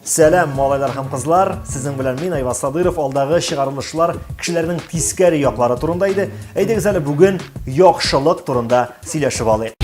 Сәлам, малайлар һәм кызлар! Сезнең белән мин Айваз Садыров. Алдагы чыгарылышлар кешеләрнең тискәре яклары турында иде. Әйдәгез әле бүген яхшылык турында сөйләшеп алыйк.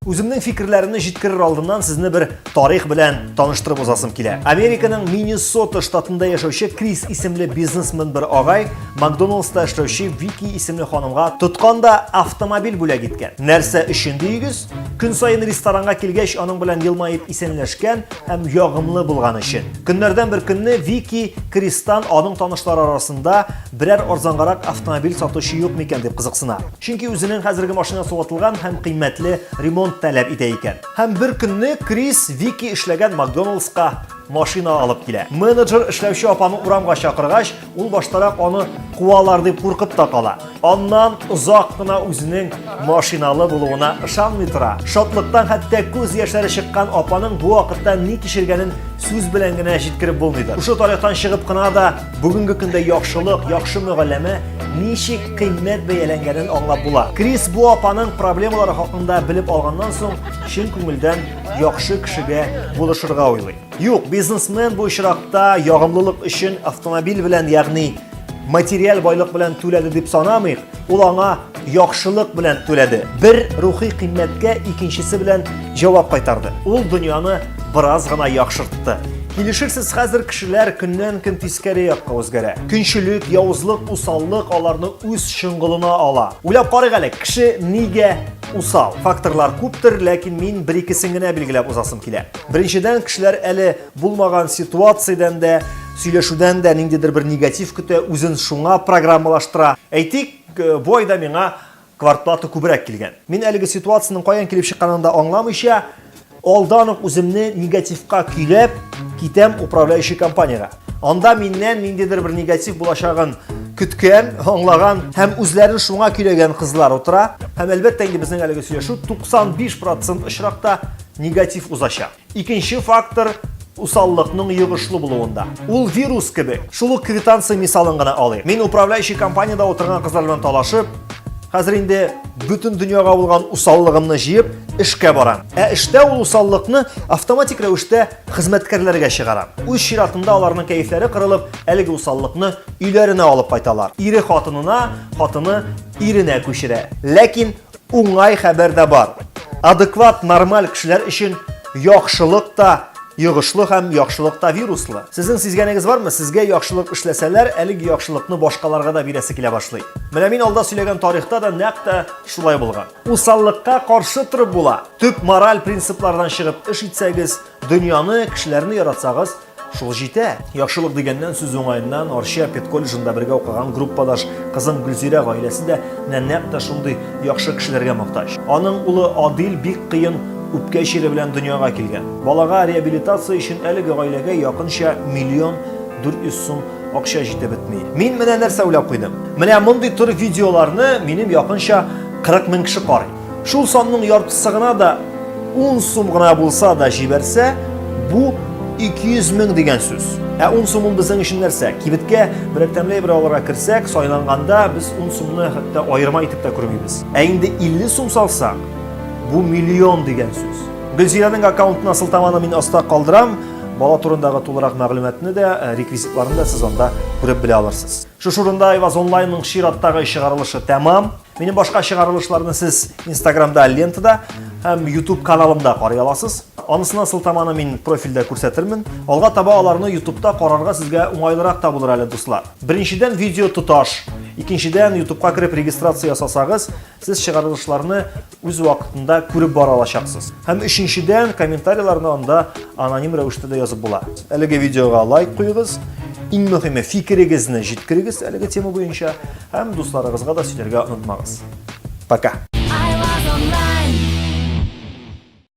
Үземнең фикерләремне җиткерер алдыннан сезне бер тарих белән таныштырып узасым килә. Американың Миннесота штатында яшәүче Крис исемле бизнесмен бер агай Макдоналдста эшләүче Вики исемле ханымга тотканда автомобиль бүләк иткән. Нәрсә өчен дигез? Көн сайын ресторанга килгәч, аның белән елмаеп исәнләшкән һәм ягымлы булган өчен. Көннәрдән бер көнне Вики Кристан аның танышлары арасында берәр арзангарак автомобиль сатучы юк микән дип кызыксына. Чөнки үзенең хәзерге машина сугатылган һәм кыйммәтле ремонт таләп итә икән. Һәм бер көнне Крис Вики эшләгән Макдоналдска машина алып килә. Менеджер эшләүче апаны урамга чакыргач, Ул баштарак аны куалар дип куркып та кала. Аннан озак кына үзенең машиналы булуына ышанмый тора. Шатлыктан хәтта күз яшьләре чыккан апаның бу вакытта ни кичергәнен сүз белән генә җиткереп булмыйдыр. Шушы тарихтан чыгып кына да бүгенге көндә яхшылык, яхшы мөгалләмә ничек кыйммәт бәяләнгәнен аңлап була. Крис бу апаның проблемалары хакында белеп алганнан соң, чын күңелдән яхшы кешегә булышырга уйлый. Юк, бизнесмен бу очракта ягымлылык өчен автомобиль белән, ягъни материаль байлык белән түләде дип санамыйк, ул аңа яхшылык белән түләде. Бер рухи кыйммәткә икенчесе белән җавап кайтарды. Ул дөньяны бераз гына яхшыртты. Килешерсез, хәзер кешеләр көннән көн тискәре якка үзгәрә. Көнчелек, явызлык, усаллык аларны үз чыңгылына ала. Уйлап карыйк әле, кеше нигә Усал факторлар күптер, ләкин мин бер икесен генә билгеләп узасым килә. Беренчедән, кешеләр әле булмаган ситуациядән дә, сөйләшүдән дә ниндидер бер негатив көтә, үзен шуңа программалаштыра. Әйтик, э, бу айда миңа квартплата күбрәк килгән. Мин әлеге ситуациянең каян килеп чыкканын да аңламыйча, Алдан ук үземне негативка көйләп китәм управляющий компаниягә. Анда миннән ниндидер бер негатив булачагын көткән, аңлаган һәм үзләрен шуңа көйләгән кызлар утыра. Һәм әлбәттә инде безнең әлеге сөйләшү 95% очракта негатив узачак. Икенче фактор усаллыкның йогышлы булуында. Ул вирус кебек. Шул ук квитанция мисалын гына алыйк. Мин управляющий компаниядә утырган кызлар белән талашып, хәзер инде бөтен дөньяга булган усаллыгымны җыеп, эшкә барам. Ә эштә ул усаллыкны автоматик рәвештә хезмәткәрләргә чыгарам. Үз чиратында аларның кәефләре кырылып, әлеге усаллыкны өйләренә алып кайталар. Ире хатынына, хатыны иренә күчерә. Ләкин Уңай хәбәр дә бар. Адекват, нормаль кешеләр өчен яхшылык та йогышлы һәм яхшылык та вируслы. Сезнең сизгәнегез бармы, сезгә яхшылык эшләсәләр, әлеге яхшылыкны башкаларга да бирәсе килә башлый. Менә мин алда сөйләгән тарихта да нәкъ тә шулай булган. Усаллыкка каршы торып була. Төп мораль принциплардан чыгып эш итсәгез, Дөньяны, кешеләрне яратсагыз, шул җитә. Яхшылык дигәннән сүз уңаеннан Арча педколледжында бергә укыган группадаш кызым Гөлзирә гаиләсе дә менә нәкъ тә шундый яхшы кешеләргә мохтаҗ. Аның улы Адил бик кыен үпкә чире белән дөньяга килгән. Балага реабилитация өчен әлеге гаиләгә якынча миллион 400 сум акча җитеп бетми. Мин менә нәрсә уйлап куйдым. Менә мондый төр видеоларны минем якынча 40 мең кеше карый. Шул санның яртысы гына да 10 сум гына булса да җибәрсә, бу 200 мең дигән сүз. Ә 10 сум ул безнең өчен нәрсә? Кибеткә берәр тәмле бер алырга керсәк, сайланганда без 10 сумны хәтта аерма итеп тә күрмибез. Ә инде 50 сум салсак, бу миллион дигән сүз. Гөлзирәнең аккаунтына сылтаманы мин аста калдырам. Бала турындагы тулырак мәгълүматны да, э, реквизитларны да сез анда күреп белә алырсыз. Шушы урында Айваз онлайнның чираттагы чыгарылышы тәмам. Минем башка чыгарылышларны сез Инстаграмда лентада һәм YouTube каналымда карый аласыз. Анысына сылтаманы мин профильдә күрсәтермен. Алга таба аларны YouTubeда карарга сезгә уңайлырак та булыр әле, дуслар. Беренчедән видео тоташ, икенчедән YouTubeга кереп регистрация ясасагыз, сез чыгарылышларны үз вакытында күреп бара алачаксыз. Һәм өченчедән комментарийларны анда аноним рәвештә дә язып була. Әлеге видеога лайк куегыз. Иң мөһиме фикерегезне җиткерегез әлеге тема буенча. Һәм дусларыгызга да сөйләргә онытмагыз. Пока!